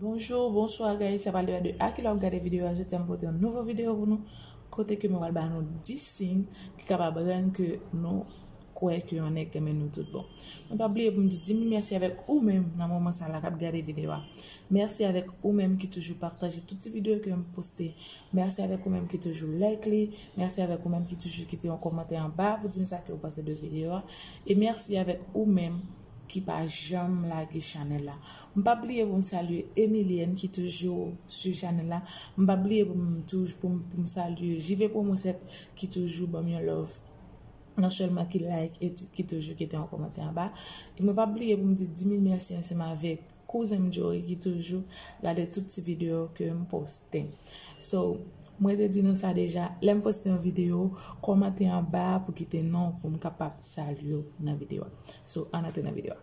Bonjour, bonsoir guys sa pral debat de a ki lè wap gade video a jodi a m pote yon nouvo video pou nou kote ke mwen pral ba nou 10 sign ki kapab rann ke nou kwè ke yon nèg renmen nou tout bon mwen pap bliye pou m di dim merci avèk ou menm nan moman sa la kap gade video a merci avèk ou menm ki toujou pataje tout ti video ke m poste merci avèk ou menm ki toujou like li merci avèk ou menm ki toujou kite yon kòmantè anba pou dim sa ke ou panse de video a e merci avèk ou menm ki pa janm lage chanèl la. M pap bliye pou m salye Emilienne ki toujou swiv chanèl la, m pap bliye pou m touj pou m pou m salye JV promo 7 ki toujou banm yon love non sèlman ki like et ki toujou kite yon kòmantè anba e mwen pap bliye pou m di di mil mèsi ansanm avèk kouzen m Jory ki toujou gade tout ti videyo ke m poste so mwen te di nou sa deja lè m poste yon videyo kòmante anba pou kite non pou m kapab salye w nan videyo a so ann antre nan videyo a.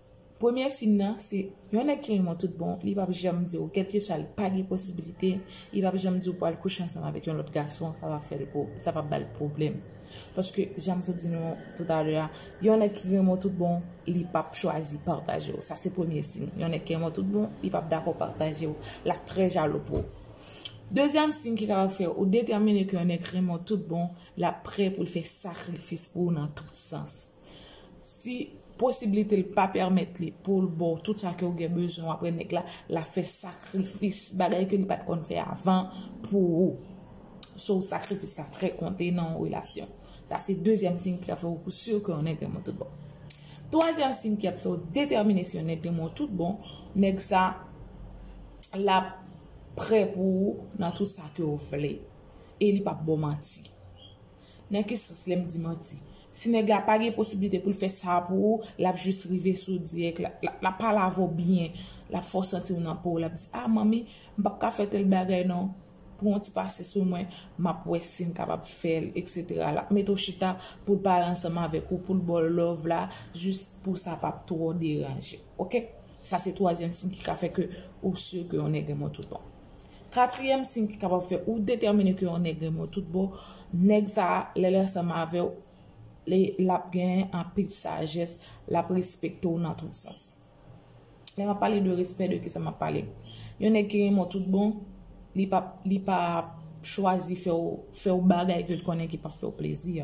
Premye siy nan se yon nèg ki renmen w tout bon, li pap janm di w kèlkeswa li pa gen posibilite, li pap janm di w pou al kouche ansanm avèk yon lòt gason sa pa fè l sa pa ba l pwoblèm. Paske jan m sot di nou toutalè a, yon nèg ki renmen w tout bon, li pap chwazi pataje w. Sa se premye siy. Yon nèg ki renmen w tout bon, li pap dakò pataje w. L ap trè jalou pou w. Dezyèm siy ki kapab fè ou detèmine ke yon nèg renmen w tout bon, l ap prè pou l fè sakrifis pou ou nan tout sans. Si posibilite l pa pèmèt li pou l ba w tout sa ke w gen bezwen apre nèg la, l ap fè sakrifis, bagay ke li pa t konn fè avan pou ou. So, sakrifis la trè konte nan yon relasyon. Sa se dezyèm siy ki ap fè w pou si ke yon nèg renmen w tout bon. Twazyèm siy ki ap fè w detèmine si yon nèg renmen w tout bon, nèg sa l ap prè pou ou nan tout sa ke w vle e li p ap ba w manti. Nan ki sans lèm di manti? Si nèg la pa gen posibilite poul fè sa pou ou, lap jis rive sou dirèk, lap pale avè w byen, lap fè w santi w nan po w, lap di ah manmi, m pap ka fè tèl bagay non, pran yon ti pasyans pou mwen, map wè sim kapab fè l etc. Lap mete w chita poul pale ansanm avèk ou, poul ba w love la, jis pou sa pa twò deranje ok. Sa se twazyèm siy ki ka fè ke ou sur ke yon nèg renmen w tout bon. Katriyèm siy ki kapab fè ou detèmine ke yon nèg renmen w tout bon, nèg sa a, lè l ansanm avè w, l ap gen anpil sajès, l ap respekte w nan tout sans. Lè m ap pale de respè, de kisa m ap pale? Yon nèg ki renmen w tout bon, li p ap chwazi fè w bagay ke l konnen ki p ap fè w plezi.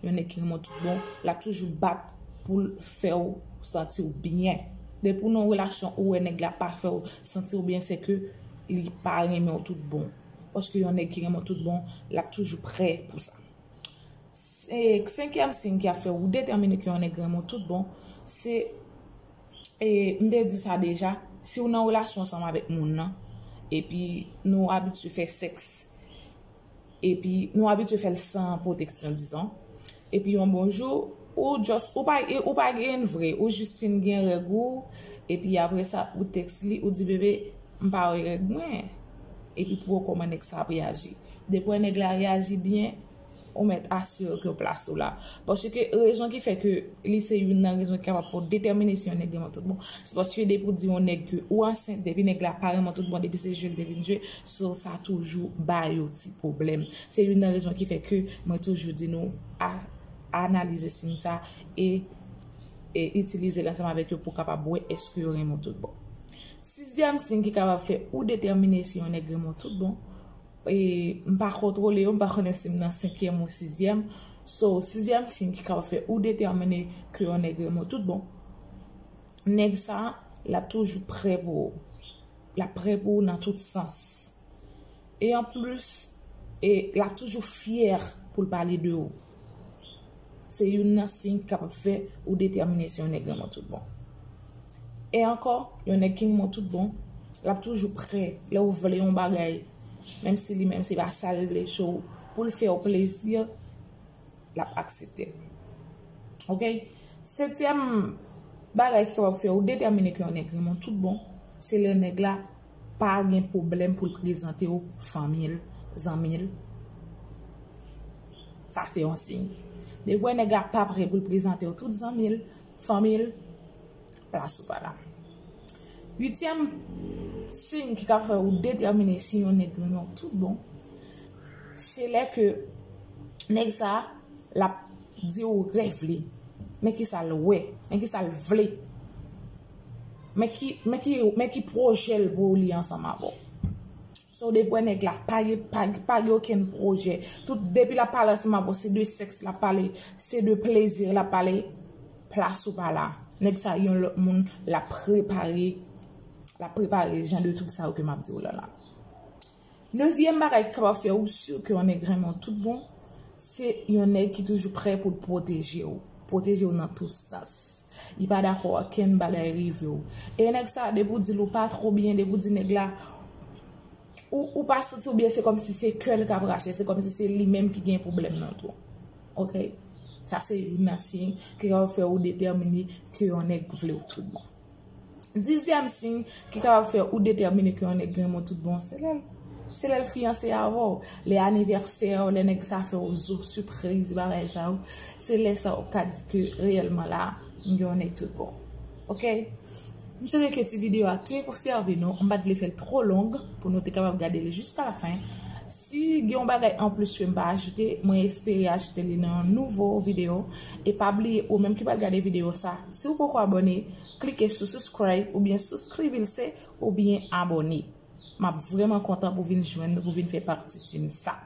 yon nèg ki renmen w tout bon, l ap toujou bat pou l fè w santi w byen. Depi w nan yon relasyon ou wè nèg la pa fè w santi w byen se ke li pa renmen w tout bon. Paske yon nèg ki renmen w tout bon, l ap toujou prè pou sa. Senkyèm siy ki ap fè ou detèmine ke yon nèg renmen w tout bon, se e m te di sa deja, si w nan relasyon ansanm avèk moun nan, epi nou abitye fè sèks, epi nou abitye fè l san pwoteksyon dizon, epi yon bon jou ou just ou pa ou pa genyn vre ou jis fin gen règ ou epi aprè sa ou tèks li ou di bebe m pa wè règ mwen epi pou wè kòman nèg sa ap reyaji depi wè nèg la reyaji byen ou mèt asire ke plas ou la paske rezon ki fè ke li se youn nan rezon ki kapab fè w detèmine si yon nèg renmen w tout bon se paske depi w di yon nèg ke ou ansent depi nèg la pa renmen w tout bon depi se jwe l te vin jwe So sa toujou ba yo ti pwoblèm. Se youn nan rezon ki fè ke mwen toujou di nou a analize siy sa e e itilize l ansanm avèk yo pou w kapab wè èske yo renmen w tout bon. Sizyèm siy ki kapab fè ou detèmine si yon nèg renmen w tout bon, e m pa kontwole yo, m pa konnen si m nan senkyèm ou sizyèm, so sizyèm siy ki kapab fè ou detèmine ke yon nèg renmen w tout bon, nèg sa l ap toujou prè pou ou. L ap pre pou ou nan tout sans. E anplis, e l ap toujou fyè pou l pale de ou. Se youn nan siy ki kapab fè ou detèmine si yon nèg renmen w tout bon. E ankò, yon nèg ki renmen w tout bon, l ap toujou pre lè ou vle yon bagay, menm si li menm se pa sa l vle, so pou l fè ou plezi. lap aksepte ok setyèm bagay ki kapab fè ou detèmine ke yon nèg renmen w tout bon se lè nèg la pa gen pwoblèm pou l prezante w fanmi l zanmi l sa se yon siy depi w wè nèg la pa prè pou l prezante w tout zanmi l fanmi l. Plas ou pa la. Uityèm siy ki ka fè ou detèmine si yon nèg renmen w tout bon, se lè ke nèg sa l ap di ou rèv li, men ki sa l wè, men ki sa l vle, men ki pwojè l pou li ansanm avè w. Sa w dwe kwè nèg la pa gen okenn pwojè, depi l ap pale ansanm avè w se de sèks l ap pale, se de plezi l ap pale. Plas ou pa la. Nèg sa yon lòt moun lap prepare lap prepare jan de twoup sa yo ke map diw la la. Nevyèm bagay ki kapab fè ou sur ke yon nèg renmen w tout bon, se yon nèg ki toujou prè pou l pwoteje w, pwoteje w nan tout sans. Li pa dakò okenn bagay rive w. E nèg sa depi w di l ou pa two byen, depi w di nèg la. ou pa santi w byen se kòm si se kè l k ap rache, se kòm si se li menm ki gen pwoblèm nan tou. Ok. Sa se youn nan siy ki kapab fè ou detèmine ke yon nèg vle w tout bon. Dizyèm siy ki kapab fè ou detèmine ke yon nèg renmen w tout bon, se lè l, se lè l fiyanse avè w, lè anivèsè w, lè nèg sa fè w zo, sipriz, bagay sa yo, se lè sa ou ka di ke reyèlman la, m gen yon nèg tout bon. Ok M swete ke ti video a te sèvi nou, m pat vle fèl twò long pou nou te kapab gade li jiska la fen. Si gen yon bagay anplis kem pa ajoute, mwen espere ajoute li nan yon nouvo video e pa bliye ou menm ki pral gade video sa, siw poko abone, klike sou subscribe oubyen souscrivilse oubyen abone. Map vrèman kontan pou vin jwenn nou pou vin fè pati team sa.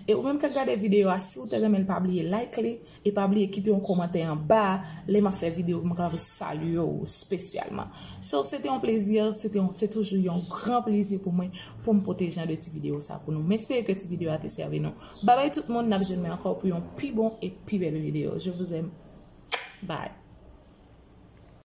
E ou menm kap gade video a siw te renmenl pa bliye like li. E pa bliye kite yon komantè anba a, lè map fè video mwen kapab salye w spesyalman. So se te yon plezi, se te yon, se toujou yon gran plezi pou mwen poum pote jan de ti video sa pou nou. M espere ke ti video a te sèvi nou. Babay tout moun, nap jwenn mwen ankò pou yon pi bon e pi bèl video. Je vous aime. Bye.